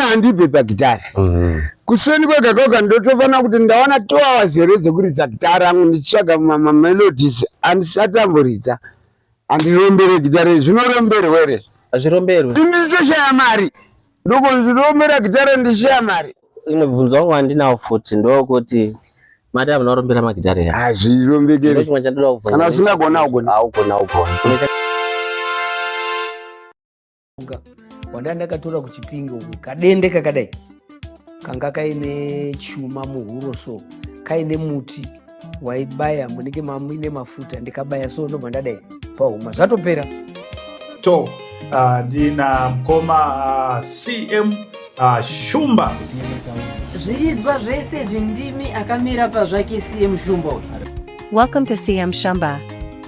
handibve pagitara mm-hmm. kuseni kwega kwega ndotofanira kuti ndawana two hours here dzekuridza gitara angu ndichitsvaga mamelodies andisati amboridza andirombere gitara izvi zvinoromberwe re hazviromberwe nditoshaya mari ndokondirombera gitara ndichishaya mari imwe bvunzo wangu wandinawo futi ndokuti mati amunorombera magitara ya hazvirombekere chimwe chandoda kubvunza kana usingagona ugona augona ugona mushonga wandanga ndakatora kuchipinge uku kadende kakadai kanga kaine chuma muhuro so kaine muti waibaya munenge mamuine mafuta ndikabaya so ndobva ndadai pahuma zvatopera to ah, ndina mkoma ah, cm ah, shumba zviridzwa zvese zvindimi akamira pazvake cm shumba welcome to cm shumba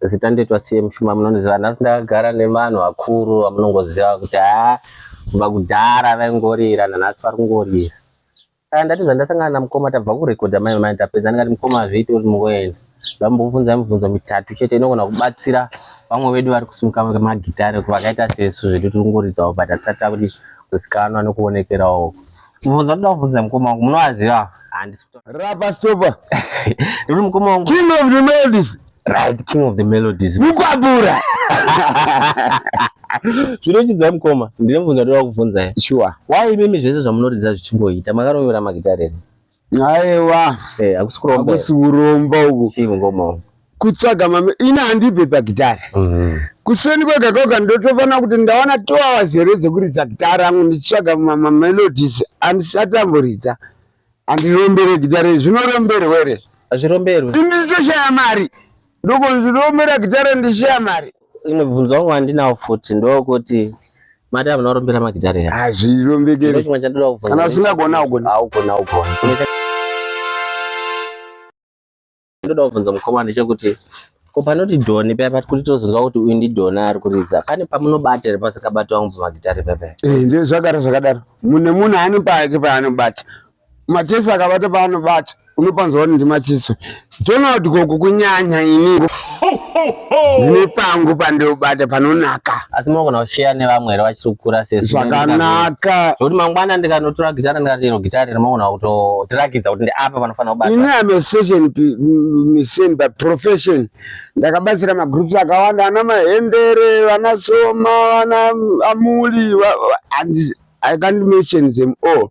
Zita ndoitwa Tsiye Mushuma, munondiziva nhasi ndakagara nevanhu vakuru vamunongoziva kuti haa kubva kudhara vaingorira nanhasi vari kungorira. Kana ndati zvandasangana namukoma tabva kurekodha mai vamai tapedza ndikati mukoma hazviiti uri mungoenda. Vambobvunza mibvunzo mitatu chete inogona kubatsira vamwe vedu vari kusimuka magitare vakaita sesu zvedu tiri kungoridzawo but hatisati takuti kuzikanwa nekuonekerawo. Mubvunzo ndoda kubvunza mukoma wangu munovaziva? Handisi rapa stopa. Ndikuti mukoma wangu. King of the melodies. Right, king of the melodies. Mukwabura. Zvinochidza mukoma. Ndine mubvunzo ndoda kuvhunza ya. Sure. Why imimi zvese zvamunoridza zvichingoita makarovera magitare here? Aiwa. Eh, hakusi kuromba. Hakusi kuromba uku. Chii mukoma. Kutsvaga mame ina handibve pagitare. Mhm. Kuseni kwega kwega ndotofanira kuti ndawana 2 hours here dzekuridza gitare angu ndichitsvaga mama melodies andisati amboridza. Andirombereki jare zvinoromberwa here? Hazviromberwi. Ini ndichishaya mari. Ndoko ndirombera gitare ndichishaya mari. Imwe bvunzo wangu wandinawo futi ndokuti mati hamuna kurombera magitare here? Hazvirombekeri. Ndochimwe chandoda kubvunza. Kana usingagona ugona. Haugona ugona. ndoda kubvunza mukoma ndicho kuti ko panoti doni paya pati kuti tozonzwa kuti uyu ndidoni ari kuridza pane pamunobata here pasakabata wangu pamagitari pepaya eh, ndio zvagara zvakadaro mune munhu ane pake paanobata macheso akabata paanobata unopanzwa kuti ndimacheso donald gogo kunyanya ini Ndine pangu pandinobata panonaka. Asi munogona kushare nevamwe here vachiri kukura sesi. Zvakanaka. Zvekuti mangwana ndikanotora gitara ndikati ino gitara iri munogona kutotirakidza kuti ndiapa panofanira kubata. Ini am a session musician by profession. Ndakabatsira magroups akawanda ana mahendere, vana soma, vana amuli. I can't mention them all.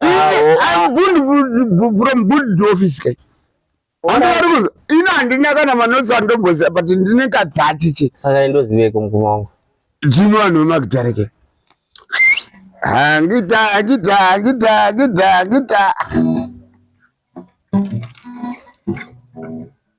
I'm good from good office kai. Andarikuza ina handina kana manotsi andomboziva but ndine kadzati che. Saka indoziveko mukoma wangu. Dzino vanhu vemakitare kai. Hangita hangita hangita hangita hangita.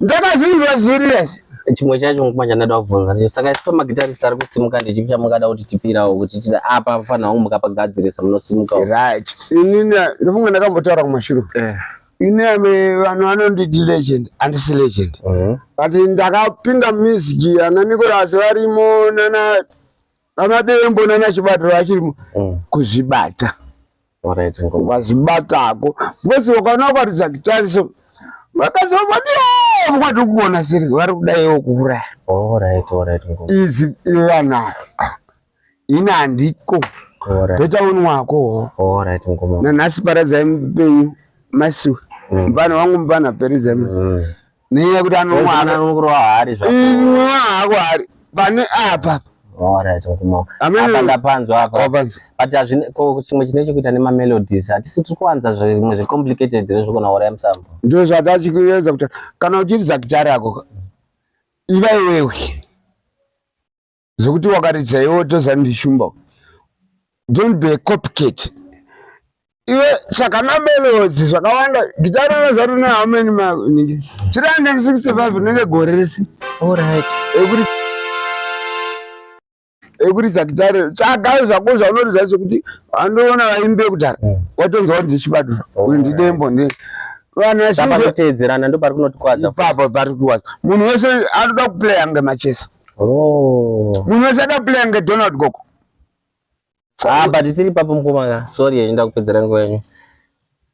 ndakazvinzwa zviri izvi chimwe chacho nguva chandada kubvunza ndicho saka isi pamagitarisi ari kusimuka ndichipi chamungada kuti tipirawo kuti titi apa mufanira wangu mukapagadzirisa munosimuka right inini ndofunga ndakambotaura kumashure eh. ini ame vanhu vanonditi legend andisi legend mhm. but ndakapinda music ana nikorasi varimo nana Ana Dembo nana Chibata vachiri mm. kuzvibata. Alright, ngo. Vazibatako. Ngozi wakana kwaridza kitariso. Vakazova ndiyo kwati kuona siri vari kudaiwo kuuraya. Alright, alright, ngo. Izi vana. Ina handiko. Alright. Beta wenu wako. Alright, ngo. Nanasi paradza mupenyu. Masiwe. Mm. Mvana wangu mvana peredza. Mm. nenyaya yekuti anomwaanokurova haari zvaaako haari pane apa ndapanzwa apa but chimwe chine chekuita nemamelodies hatisi tiri kuwanza zvimwe zvecomplicated re zvekona hora yemusambo ndo zvatachikuedza kuti kana uchiridza gitari ako iva iwewe zvekuti wakaridza iwe tozani ndishumba don't be a copycat iwe saka namelodzi zvakawanda gita rino zari ne how many manike 365 rinenge gore rese alright ekuti ekuridza gitare tsvaga zvako zvaunoridza zvekuti andoona vaimbi vekudhara hmm. watonzwa kuti ndichibadura uyu ndidembo ndi vanhu vateedzerana ndo pari kunotikwadza ipapo pari kutikwadza munhu wese anoda kuplaya ngemachesa Oh. Munhu wese ada kuplaya kunge Donald Gogo. Ah, but tiri papo mkomana. Sorry yenda kupedzera nguva yenyu.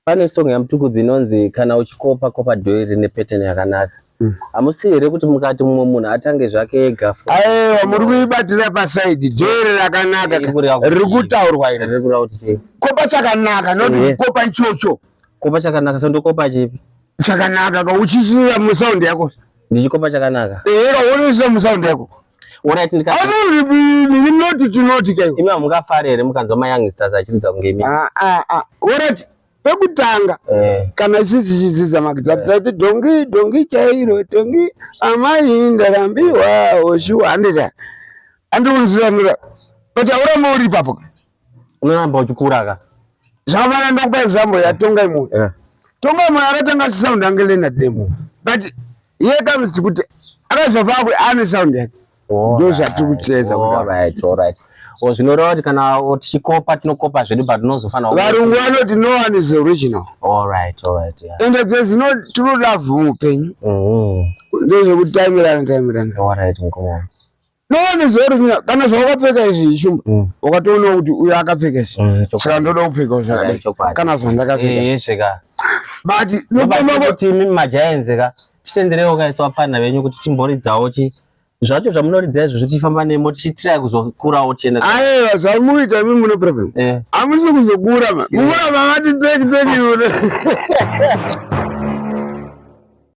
Pane song ya Mtukudzi inonzi kana uchikopa kopa dhoyi rine pattern yakanaka. Mm. Hamusi here kuti mukati mumwe munhu atange zvake ega fo. Aiwa muri kuibatira pa side dhoyi rakanaka. Riri kutaurwa iri. Riri kutaurwa kuti kopa chakanaka not eh. kopa ichocho. Kopa chakanaka sandokopa chipi? Chakanaka ka uchisira mu sound yako. Ndichikopa chakanaka. Eh, kaonesa musound yako. Alright ndika. Anori bini noti tinoti kayo. Imi hamungafare here mukanzwa ma youngsters achiridza kunge imi. Ah ah ah. Alright. Pekutanga eh. kana sisi chidzidza makidza eh. tati dongi dongi chairo dongi amai ndarambiwa oshuwa handida. Andiunzira ndira. But auramba uri ipapo. unoramba uchikura ka zvavana ndokupa example yatonga imo yeah. tonga imo akatanga achisound ange lena demo but here comes tikuti akazova akwe ane sound yake ndo zvatiri kuteedza oh, zvinoreva kuti kana tichikopa tinokopa zvedu but tinozofanira varungu vanoti no one is original ende dzezino tinoda vhumu upenyu mm-hmm. ndozvekutamirana tamirana ndoonezorina kana zvawakapfeka izvi shumba mm. wakatoona kuti uyo akapfeka izvi mm, saka ndoda kupfekawo zvakadai kana zvandakapfeka eh, but nokuti majaenzi ka titenderewo kaisa vapfanha venyu kuti timboridzawo chi zvacho zvamunoridza izvo zvotifamba nemo tichitirai kuzokurawo tienda aiwa zvamuita imi mune problem eh. hamusi kuzokura mukura mavati dzeki dzeki